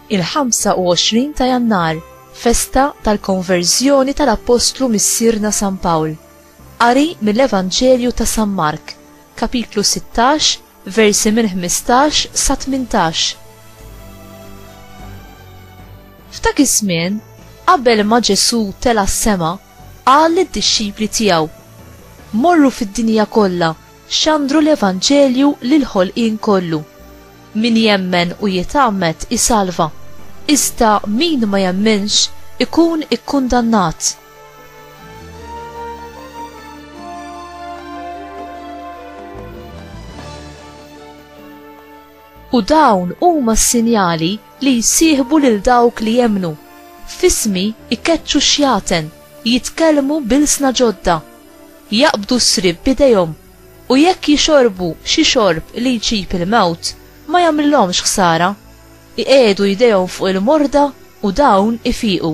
il-25 ta' jannar, festa tal-konverżjoni tal-Appostlu Missierna San Pawl. Qari mill-Evanġelju ta' San Mark, Kapitlu 16, versi minn 15 sa 18 F'dak iż-żmien, qabel ma Ġesù tela' s-sema, qal lid-dixxipli tiegħu, Morru fid-dinja kollha, xandru l-evanġelju lill-ħolqien kollu. Min jemmen u jitgħammed isalva, iżda min ma jemminx ikun ikkundannat. U dawn huma s-sinjali li jsieħbu lil dawk li jemnu. Fismi ikeċċu xjaten, jitkellmu bilsna ġodda, jaqbdu s-srib b'idejhom, u jekk jixorbu xi xorb li jġib il-mewt, ma jagħmlilhomx ħsara. Iqiegħdu jdejhom fuq il-morda u dawn ifiqu.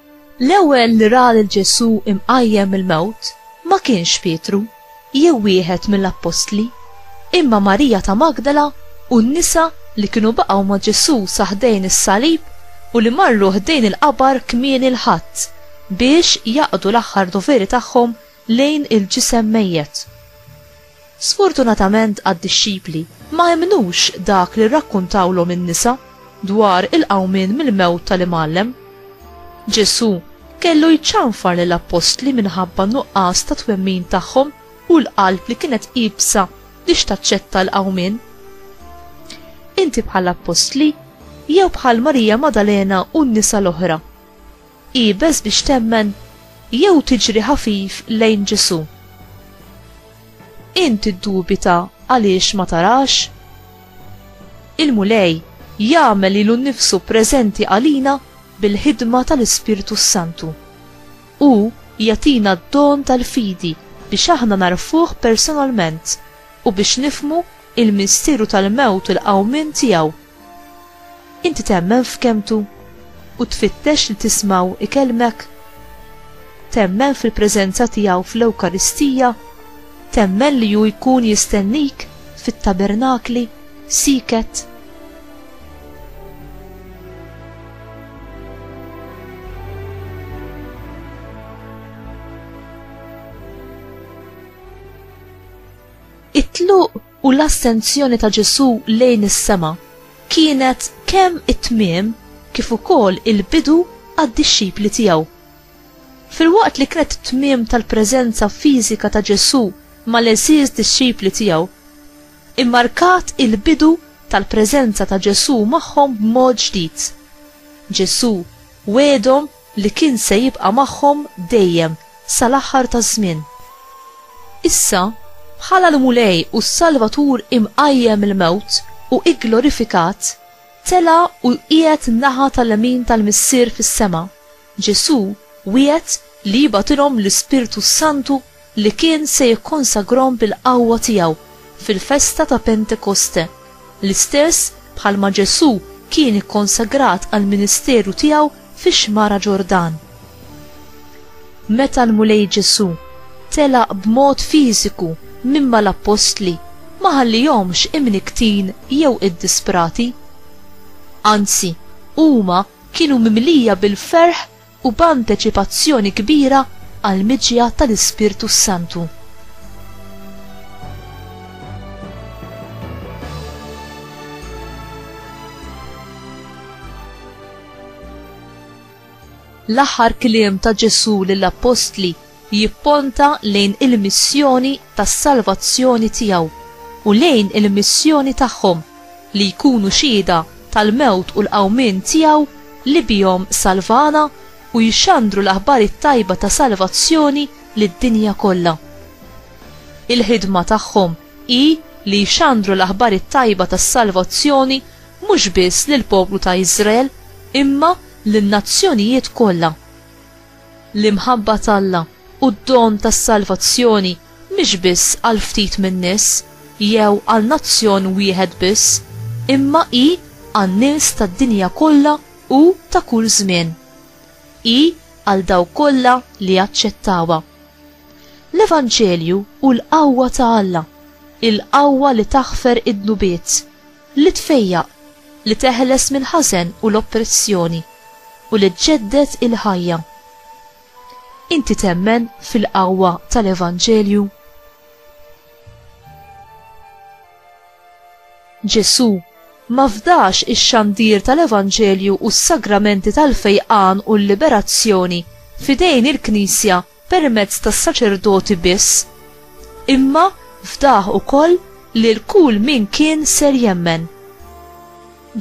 L-ewwel li ra lil Ġesù imqajjem mill-mewt ma kienx Pietru jew wieħed mill-appostli, imma Marija ta' Magdala u n-nisa li kienu baqgħu ma' Ġesù sa ħdejn is-salib u li marru ħdejn il-qabar kmieni l-Ħadd biex jaqdu l-aħħar doveri tagħhom lejn il-ġisem mejjet. Sfortunatament għad-dixxipli ma emmnux dak li rrakkuntawlhom in-nisa dwar il-qawmien mill-mewt tal-Imgħallem. Ġesù kellu jċanfar lill-appostli minħabba n-nuqqas ta' twemmin tagħhom u l-qalb li kienet iebsa biex taċċetta l-qawmien. Inti bħall-appostli jew bħal Marija Maddalena u n-nisa l-oħra? Iebes biex temmen jew tiġri ħafif lejn Ġesù. Int tiddubita għaliex ma tarax? Il-Mulej jagħmel lilu nnifsu preżenti għalina bil-ħidma tal-Ispirtu s-Santu. Hu jagħtina d-don tal-fidi biex aħna nagħrfuh personalment u biex nifhmu l-misteru tal-mewt u l-qawmien tiegħu. Inti temmen f'kelmtu u tfittex li tismgħu ikellmek? Temmen fil-preżenza tiegħu fl-Ewkaristija? Temmen li hu jkun jistennik fit-tabernakli, sieket? It-tluq u l-assenzjoni ta' Ġesù lejn is-sema kienet kemm it-tmiem kif ukoll il-bidu għad-dixxipli tiegħu. Filwaqt li kienet it-tmiem tal-preżenza fiżika ta' Ġesù mal-għeżież dixxipli tiegħu, immarkat il-bidu tal-preżenza ta' Ġesù magħhom b'mod ġdid. Ġesù wegħedhom li kien se jibqa' magħhom dejjem sal-aħħar taż-żmien. Issa, bħala l-Mulej u s-Salvatur imqajjem mill-mewt u gglorifikat, tela' u qiegħed naħa tal-lemin tal-Missier fis-sema, Ġesù wiegħed li jibgħatilhom l-Ispirtu s-Santu li kien se jikkonsagrahom bil-qawwa tiegħu fil-festa ta' Pentekoste, l-istess bħalma Ġesù kien ikkonsagrat għall-ministeru tiegħu fix-Xmara Ġordan. Meta l-Mulej Ġesù telaq b'mod fiżiku minn mal-appostli ma ħallihomx imnikktin jew iddisprati. Anzi, huma kienu mimlija bil-ferħ u b'anteċipazzjoni kbira għall-miġja tal-Ispirtu s-Santu. L-aħħar kliem ta' Ġesù lill-appostli jipponta lejn il-missjoni tas-salvazzjoni tiegħu u lejn il-missjoni tagħhom li jkunu xhieda tal-mewt u l-qawmien tiegħu li bihom salvana u jxandru l-aħbar it-tajba ta' salvazzjoni lid-dinja kollha. Il-ħidma tagħhom hi li jxandru l-aħbar it-tajba tas-salvazzjoni mhux biss lill-poplu ta' Iżrael imma lin-nazzjonijiet kollha. L-imħabba t'Alla u d-don tas-salvazzjoni mhix biss għal ftit min-nies jew għal nazzjon wieħed biss, imma hi għan-nies tad-dinja kollha u ta' kull żmien. Hi għal dawk kollha li jaċċettawha. L-Evanġelju hu l-qawwa ta' Alla, il-qawwa li taħfer id-dnubiet, Li tfejjaq, li teħles mill-ħażen u l-oppressjoni, u li ġġedded il-ħajja. Inti temmen fil-qawwa tal-Evanġelju? Ġesù ma fdax ix-xandir tal-Evanġelju u s-sagramenti tal-fejqan u l-liberazzjoni f'idejn il-Knisja permezz tas-saċerdoti biss, imma fdah ukoll lil kull min kien ser jemmen.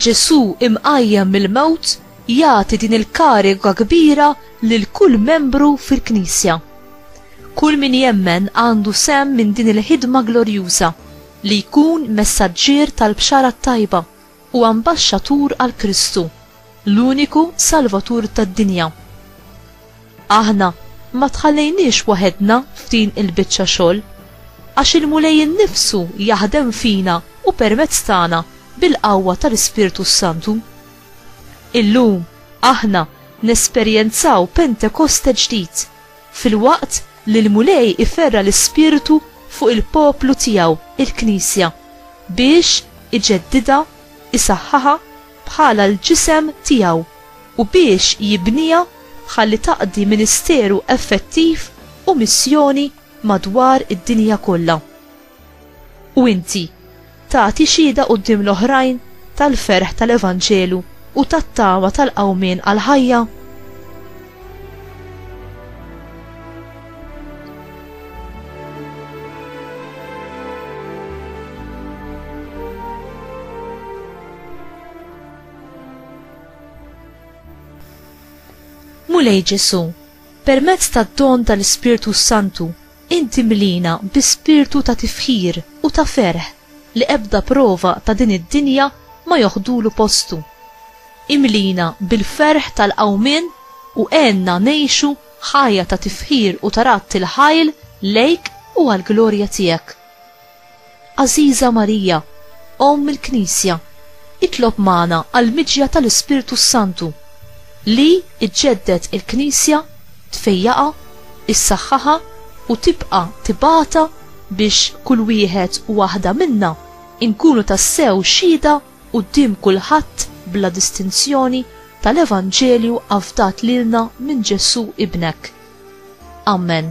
Ġesù imqajjem mill-mewt jagħti din il-kariga kbira lil kull membru fil-Knisja. Kull min jemmen għandu sehem minn din il-ħidma glorjuża li jkun messaġġier tal-Bxara t-Tajba u ambaxxatur għal Kristu, l-uniku Salvatur tad-dinja. Aħna ma tħallejniex waħedna f'din il-biċċa xogħol, għax il-Mulej innifsu jaħdem fina u permezz tagħna bil-qawwa tal-Ispirtu s-Santu. Illum aħna nesperjenzaw Pentekoste ġdid. filwaqt li l-Mulej iferra' l-ispirtu fuq il-poplu tiegħu, il-Knisja, biex iġeddidha, isaħħaha bħala l-ġisem tiegħu, u biex jibniha ħalli taqdi ministeru effettiv u missjoni madwar id-dinja kollha. U inti tagħti xhieda quddiem l-oħrajn tal-ferħ tal-evanġelu u tat-tama tal-qawmien għall-ħajja? Mulej Ġesu, permezz tad-don tal-Ispirtu Santu Int timliena bi spirtu ta' tifħir u ta' ferħ li ebda prova ta' din id-dinja ma joħdulu postu. Imliena bil-ferħ tal-qawmien u għenna ngħixu ħajja ta' tifħir u ta' radd il-ħajl lejk u għall-glorja tiegħek. Għażiża Marija, Omm il-Knisja, itlob magħna għall-miġja tal-Ispirtu s-Santu, li iġġedded il-Knisja, tfejjaqha, issaħħaħha u tibqa' tibgħatha biex kull wieħed u waħda minna nkunu tassew xhieda quddiem kulħadd bla distinzjoni tal-Evanġelju afdat lilna minn Ġesù Ibnek. Amen.